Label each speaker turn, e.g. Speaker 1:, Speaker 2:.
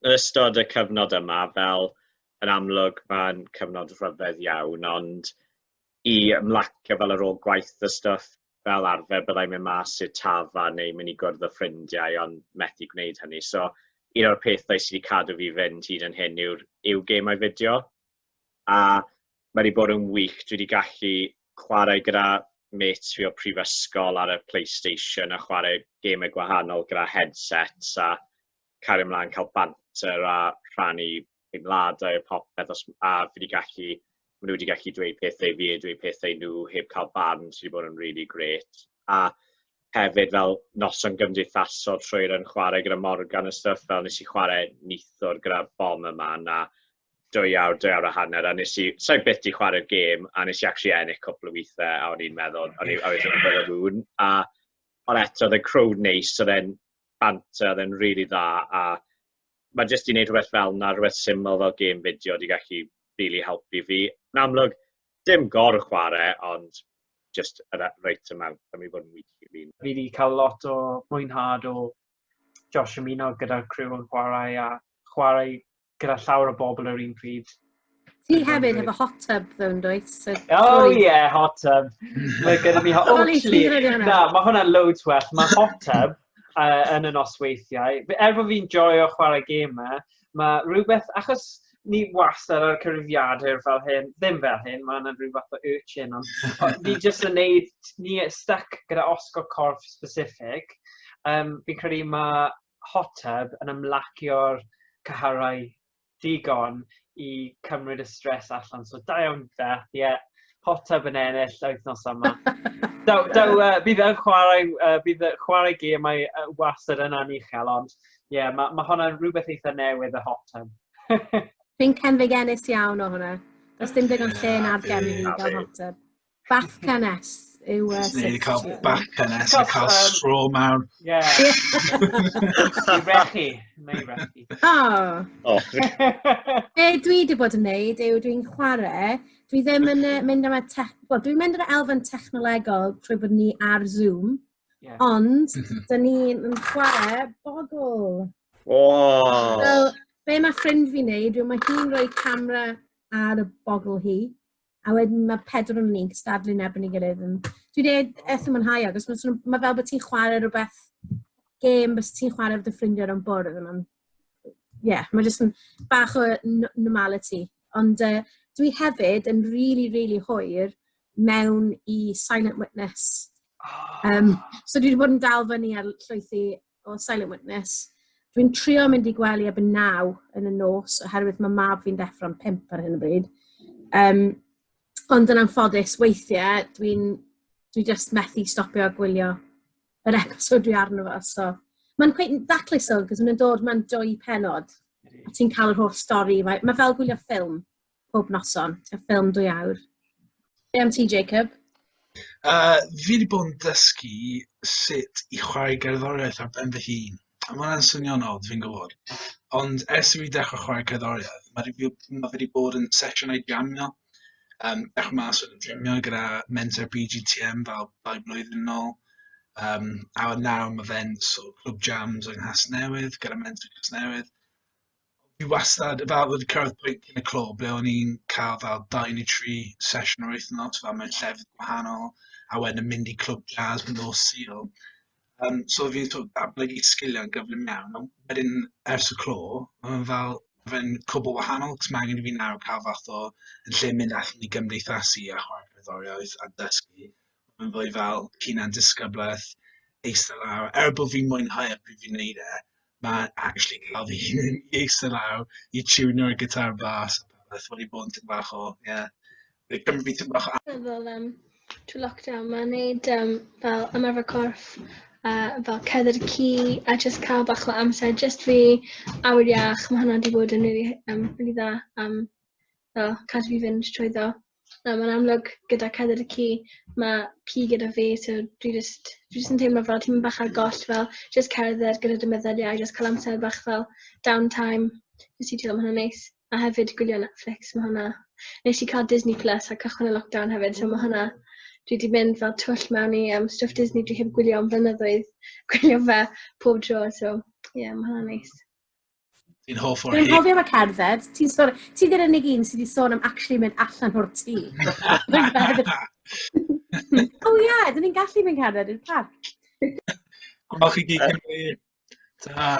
Speaker 1: yn ystod y cyfnod yma, fel yn amlwg mae'n cyfnod rhyfedd iawn, ond i ymlacio fel ar ôl gwaith y stwff fel arfer byddai'n mynd mas i'r tafa neu mynd i gwrdd â ffrindiau ond methu gwneud hynny. So un o'r pethau sydd wedi cadw fi fynd hyd yn hyn yw'r yw gemau fideo. a mae wedi bod yn wych. Dwi wedi gallu chwarae gyda mates fi o prifysgol ar y PlayStation a chwarae gemau gwahanol gyda headsets a cario ymlaen cael banter a rhannu teimladau a popeth os, a fi wedi gallu, maen nhw wedi gallu dweud pethau fi a dweud pethau nhw heb cael barn sydd wedi bod yn really great. A hefyd fel noson gymdeithasol trwy yn chwarae gyda Morgan a stuff fel nes i chwarae nithwr gyda bom yma a dwy awr, dwy awr a hanner, a nes i, so i byth i chwarae'r gêm, a nes i actually ennill cwpl o weithiau, a o'n i'n meddwl, o'n i'n meddwl y rŵn, a ond eto, oedd y crowd neis, oedd e'n banter, oedd e'n rili dda, a mae jyst i wneud rhywbeth fel yna, rhywbeth syml fel gêm fideo, di gallu really helpu fi. Yn amlwg, dim gor chwarae, ond just a right amount, a mi fod yn wych i fi. Fi wedi cael lot o
Speaker 2: mwynhad o Josh ymuno gyda'r criw yn chwarae a chwarae gyda llawer o bobl yr un pryd. Ti
Speaker 3: hefyd efo hot tub ddo, yn dweud? So, oh, ie, yeah, hot
Speaker 2: tub. Mae gyda mi hot... tub. na, mae hwnna loads well. Mae hot tub uh, yn y nosweithiau. Er bod fi'n joio chwarae gymau, e, mae rhywbeth... Achos ni wastad ar cyrifiadur fel hyn, ddim fel hyn, mae yna rhyw fath o urchin, ond ni jyst yn neud, ni stuck gyda osgo corff specific. Um, fi'n credu mae hot tub yn ymlacio'r cyharau digon i cymryd y stres allan. So da iawn Beth, ie. Yeah. Hot tub yn ennill wythnos yma. Daw, daw, uh, bydd yn chwarae, uh, bydd chwarae gemau uh, wastad yn anuchel, ond ie, yeah, mae ma hwnna'n rhywbeth eitha newydd y hot tub. Fi'n cynfig
Speaker 3: ennis iawn o hwnna. Does dim digon lle na'r gen i gael hot tub. Bath cynnes yw e. Neu i cael
Speaker 4: bath cynnes, a cael stro mawr. Ie. I rechu,
Speaker 2: neu rechu. O! O!
Speaker 3: Be dwi wedi bod yn neud yw dwi'n chwarae, dwi ddim yn uh, mynd am y tech... Wel, dwi'n mynd ar y elfen technolegol trwy bod ni ar Zoom, yeah. ond mhm. dyn ni'n chwarae bogl. O! So, be mae ffrind fi'n neud yw mae hi'n rhoi camera ar y bogl hi, A wedyn mae pedwar o'n ni'n cystadlu'n erbyn ei gilydd. Yn... Dwi'n ei eitha mwynhau agos mae, nhw, mae fel bod ti'n chwarae rhywbeth gêm bys ti'n chwarae fod y ffrindiau o'n bwrdd. Mae'n... Ie, yeah, mae jyst yn bach o normality. Ond uh, dwi hefyd yn rili, really, rili really hwyr mewn i Silent Witness. Um, so dwi wedi bod yn dal fyny ar llwythi O, silent witness. Dwi'n trio mynd i gwely ebyn naw yn y nos, oherwydd mae mab fi'n deffro'n pimp ar hyn o bryd. Um, ond yn anffodus, weithiau, dwi'n dwi just methu stopio gwylio yr episod dwi arno fo. So, mae'n cweith daclus o, gos mae'n dod, mae'n dwy penod. A ti'n cael yr holl stori. Mae fel gwylio ffilm. pob noson, y ffilm dwy awr. Be am ti, Jacob? Uh,
Speaker 4: fi wedi bod yn dysgu sut i chwarae gerddoriaeth ar ben fy hun. A mae hwnna'n swnio'n od, fi'n gwybod. Ond ers i fi dechrau chwarae cerddoriaeth, mae fi wedi bod yn sesiynau jamio, um, dechrau mas yn jamio gyda mentor BGTM fel dau blwyddyn yn ôl. Um, a nawr mae fe'n so, clwb jams yng Nghas Newydd gyda mentor Nghas Newydd. fi wastad, fel wedi cyrraedd pwynt yn y clo ble o'n i'n cael fel dau neu tri sesiwn yr wythnos, fel mewn llefydd gwahanol, a wedyn yn mynd i clwb jazz yn nos Sul. Um, so fi'n sort of datblygu sgiliau'n gyflym iawn, ond wedyn ers y clo, mae'n fel, fe'n cwbl wahanol, cos mae angen i fi nawr cael fath o, yn lle mynd allan i gymdeithasu a chwarae cerddoriaeth a dysgu, mae'n fwy fel hunan disgyblaeth, eistedd lawr, er bod fi'n mwynhau e pryd fi'n neud e, mae actually cael fy hun i eistedd lawr, i tiwnio'r gitar bas a popeth, wedi bod yn tipyn bach o, ie, wedi cymryd fi tipyn bach o amser. Fel um,
Speaker 5: trwy lockdown, mae'n neud um, fel ymarfer corff, a fel cedder y ci, a just cael bach o amser, just fi, awyr iach, mae hwnna wedi bod yn really, um, really dda, um, fel cadw fi fynd trwy ddo. Yym yn amlwg gyda Cadair y Ci ma' ci gyda fi so dwi jyst dwi jyst yn teimlo fel tipyn bach ar goll fel jyst cerdded gyda dy meddyliau jyst ca'l amser bach fel down time jyst i chillo ma' hwnna'n neis. A hefyd gwylio Netflix ma' hwnna nesh i ca'l Disney Plus ar cychwyn y lockdown hefyd so ma' hwnna dwi 'di mynd fel twll mewn i yym stwff Disney dwi heb gwylio am flynyddoedd gwylio fe pob tro so ie ma' hwnna'n neis. Ti'n
Speaker 4: hoff o'r Dwi'n hyn. hofio fe cerdded.
Speaker 3: Ti'n sôn... Ti ddi'r unig un sydd wedi sôn am actually mynd allan o'r tŷ. O ie, dyn ni'n gallu mynd cerdded
Speaker 4: i'r parc. Wel,
Speaker 3: chi gyd cymru...
Speaker 4: Ta.